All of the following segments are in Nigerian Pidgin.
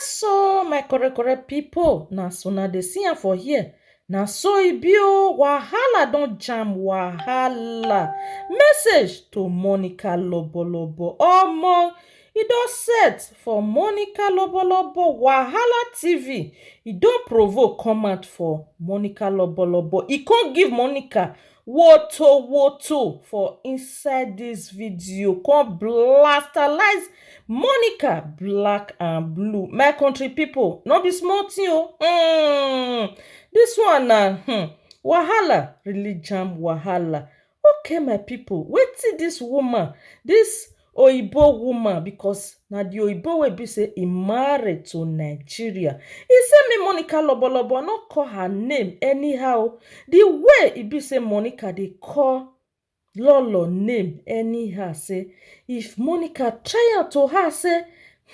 So my correct correct people, na as una dey see am for here, na so e be o, wahala don jam wahala, message to Monica lobolobo, omo e don set for Monica lobolobo, wahala TV e don provoke come out for Monica lobolobo, e come give Monica Woto woto for inside this video come blastalize Monica black and blue my country people no be small thing o mm, this one na hmm, wahala really jam wahala okay my people wetin this woman this oyibo woman because na the oyibo wey be say e marry to nigeria e say make monica lobolobo no call her name anyhow the way e be say monica dey call lolo name anyhow say if monica try am to her say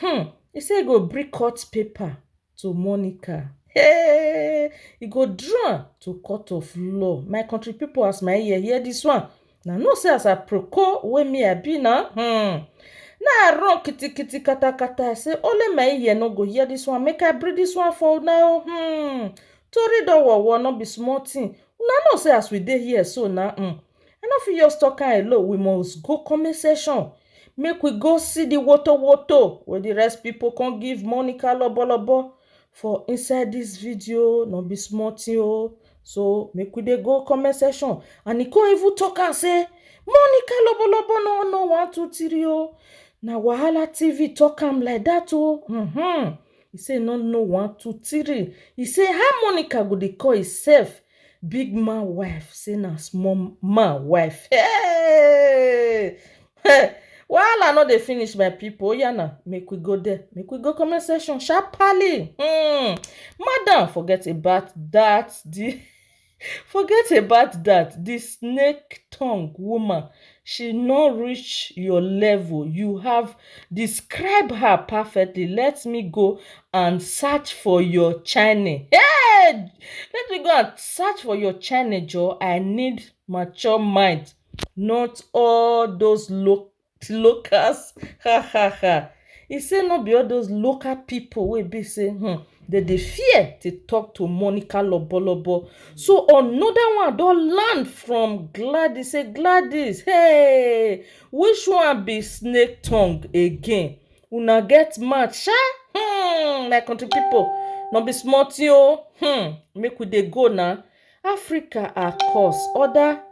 hmm e say e go bring court paper to Monica. Hey, e go draw to court of law. My country people, as my ear hear this one, na know say as I proko wey me I be na, hmm, na I run kitikiti katakata. I say only my ear no go hear this one. Make I bring this one for una o. Hmm, tori don wowo no be small thing. Una know say as we dey here so na, hmm, I no fit just talk am alone, we must go comment section make we go see the woto woto wey the rest people come give Monica lobolobo for inside this video, no be small thing o. So make we dey go comment section and e come even talk am say Monica lobolobo no know one two three o, na wahala TV talk am like that o um e say e no know one two three, e say how Monica go dey call herself Big man wife say na small man wife. Hey! Hey! Wahala no dey finish my people. Oya na, make we go there. Make we go comment section sharply. Hmm. Madam, forget about that. The forget about that. The snake tongue woman she no reach your level you have describe her perfectly let me go and search for your channel hey let me go and search for your channel joe i need mature mind not all those lo locals ha ha ha He say no be all those local people wey be say um they dey fear to talk to Monica Lobolobo. So another one don land from Gladys say Gladys hey which one be snake tongue again? Una get mouth sha um my country people no be small thing oh um make we dey go na Africa are cause other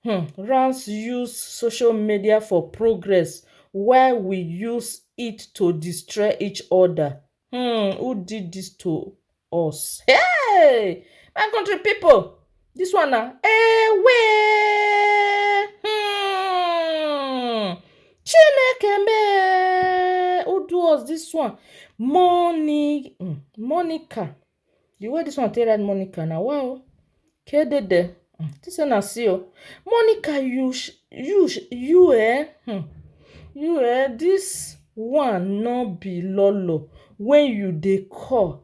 um rance use social media for progress while we use it to destroy each other um who did this to us hey my country people this one na ewe hmm chineke me who do us this one Moni, hmm, monica The way this one take write Monica na wa o. Kedede. Hmm. Think say na see o. Monica you you you eh hmm. you eh this one no be lolo when you dey call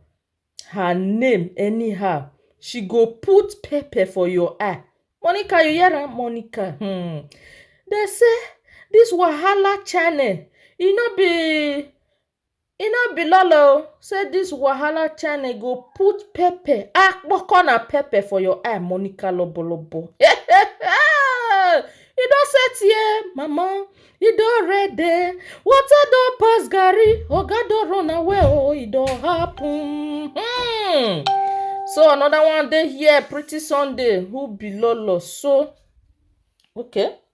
her name anyhow she go put pepper for your eye monica you hear am monica hmm. dey say this wahala channel e no be E no be lole o say this wahala channel go put pepper akpoko na pepper for your eye Monica lobolobo. you don set here mama you don ready water don pass garri oga don run away oh e don happen. Hmm. So another one dey here pretty Sunday who be lolo so okay.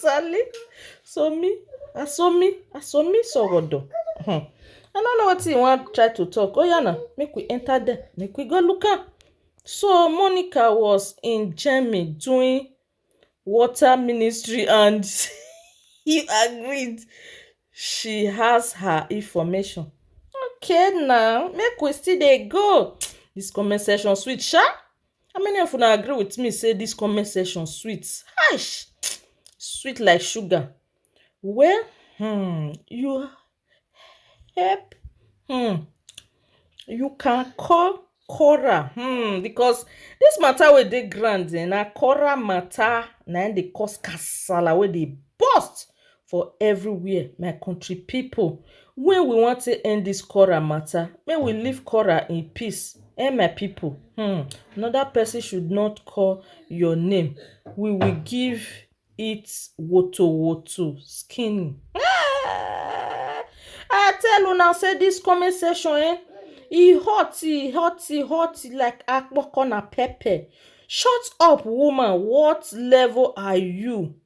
Sally, so me, I so me, I so me, so what do? Hmm. I don't know what he want try to talk. Oh yeah, no, make we enter there, make we go look up. So Monica was in Germany doing water ministry and he agreed she has her information. Okay now, make we still dey go. This comment section sweet sha. How many of una agree with me say this comment section sweet? Eish! Sweet like sugar. Well, hmm, you help, hmm, you can call Cora, hmm, because this matter wey dey ground eh, na Cora matter na im dey cause kasala wey dey burst for everywhere my country people wey we wan take end this quarrel matter make we leave quarrel in peace eh my people hmm another person should not call your name we will give it wotowoto skinny ah I tell una say this comment section eh e hot e hot e hot like akpokona pepper shut up woman what level are you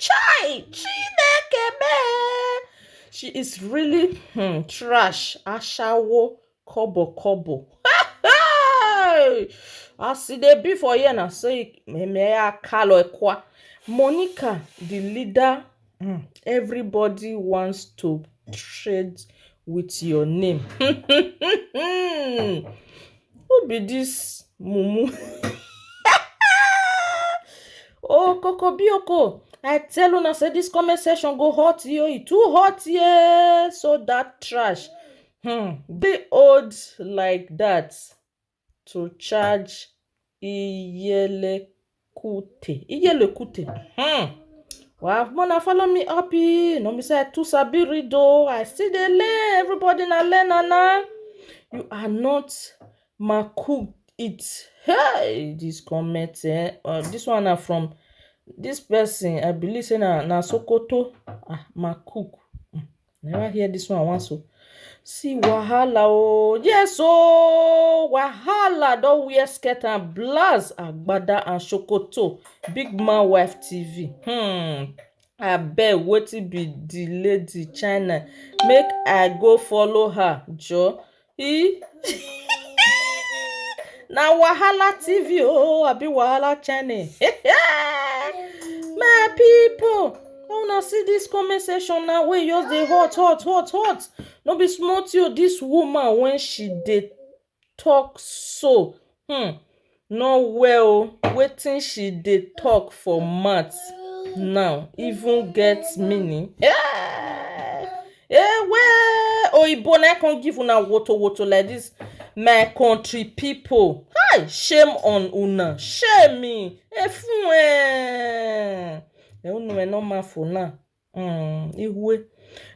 Chai! Chineke me! She is really hmm, trash. Ashawo, kobo, kobo. Hey! As e dey be for here na so e memeya kalo ekwa. Monica, the leader, hmm, everybody wants to trade with your name. Who be this mumu? oh, Coco Bioko. I tell una say this comment section go hot yo. E too hot yeah. So that trash. Hmm. Dey old like that to charge iyele Kute, Iyele Kute. Hmm. Wow, Mona, follow me up here. No, me say I too sabi read though. I still dey learn. Everybody na learn na. You are not my cook it. Hey, this comment eh. Uh, this one na from this person. I believe say na na Sokoto. Ah, my cook. Hmm. Never hear this one once o. Oh. See wahala oh, yes oh, wahala don wear skirt and blouse, agbada and shokoto, big man wife TV. Hmm. abeg wetin be the lady china make i go follow her joor E? na wahala tv oh abi wahala channel my people una see this comment section now wey just dey hot hot hot hot no be small thing o this woman when she dey talk so hmm no well o wetin she dey talk for mouth now even get meaning eh ewe oyibo na im come give una woto woto like this my country people hi shame on una shame e fun eh e unu e no ma fo na. um Iwe.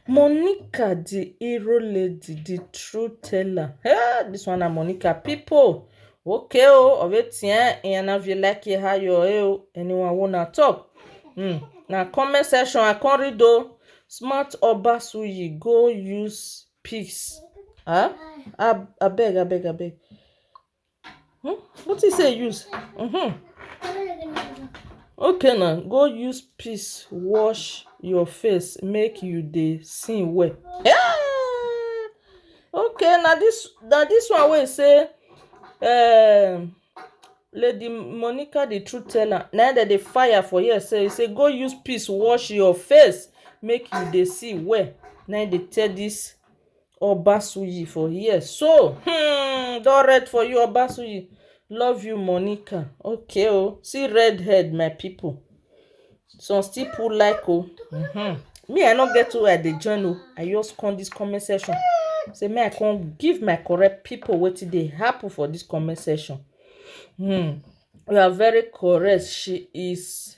Monica the hero lady, the true teller. Hey, this one na Monica people. Okay oh, of it yeah, and if you like it, how you oh, anyone wanna talk? Hmm. Na comment section I come read oh. Smart Obasuyi go use peace. Huh? Ab abeg, abeg, abeg. Hmm? What you say use? Mm-hmm. Okay now, go use peace wash your face make you dey see well. Yeah! Okay, now this now this one will say um Lady Monica the truth teller. Now that the fire for here say say go use peace wash your face make you dey see well. Now they tell this Obasuyi for here so hmm don red for you Obasuyi love you Monica okay oh see red head my people some still put like oh mm -hmm. me I no get where I dey join oh I just come this comment section say me I come give my correct people wetin dey happen for this comment section hmm you are very correct she is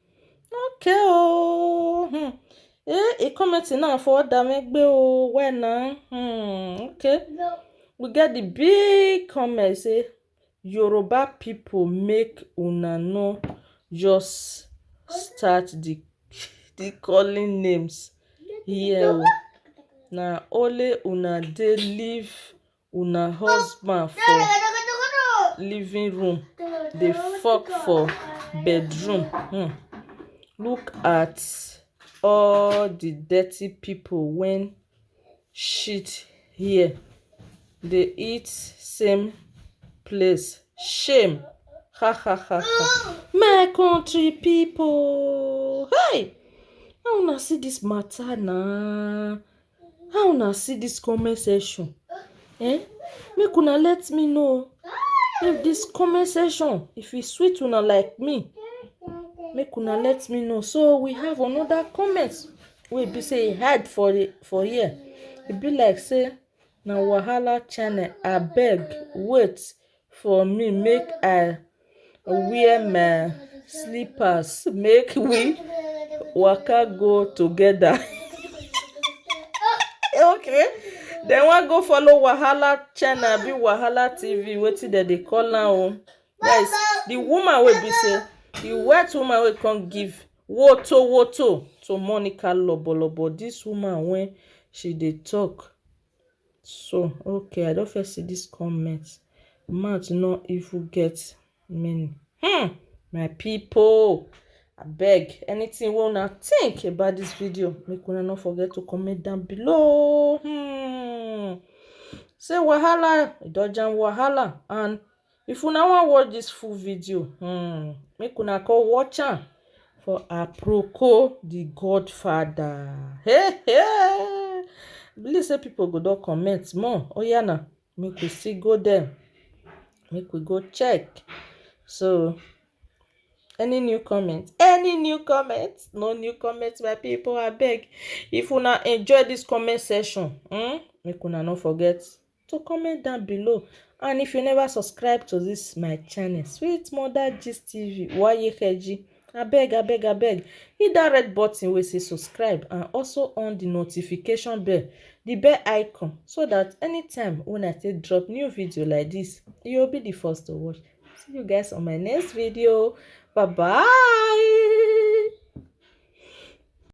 Okay oh, hmm. Eh, he commenting now for Odamegbe oh, where now? Hmm, okay. No. We get the big comment say Yoruba people make una no just start the the calling names here. Yeah, oh. Na only una dey live Una husband for living room dey fuck for bedroom um look at all the dirty people wen shit here dey eat same place shame hahahaha. My country people um how una see this matter na How una see dis comment section um make una let me know if dis comment section if e sweet una like me make una let me know so we have another comment wey be say e hide for the for here e be like say na wahala channel abeg wait for me make I wear my slippers make we waka go together. okay dem wan go follow wahala channel abi wahala tv wetin dem dey call am o guys the woman wey be say the white woman wey come give woto woto to monica lobolobo this woman wey she dey talk So okay I don first see this comment mouth no even get meaning hmm my people abeg anything wey una think about this video make una no forget to comment down below hmm say wahala e don jam wahala and If una wan watch dis full video um make una come watch am for Aproko the Godfather hey hey I believe say people go don comment more oya na make we still go there make we go check so any new comment any new comment no new comment my people abeg if una enjoy this comment section um make una no forget to comment down below and if you never subscribe to this my channel sweet mother gist tv wayekeji abeg abeg abeg hit that red button wey say subscribe and also on the notification bell the bell icon so that anytime when i take drop new video like this you'll be the first to watch see you guys on my next video bye bye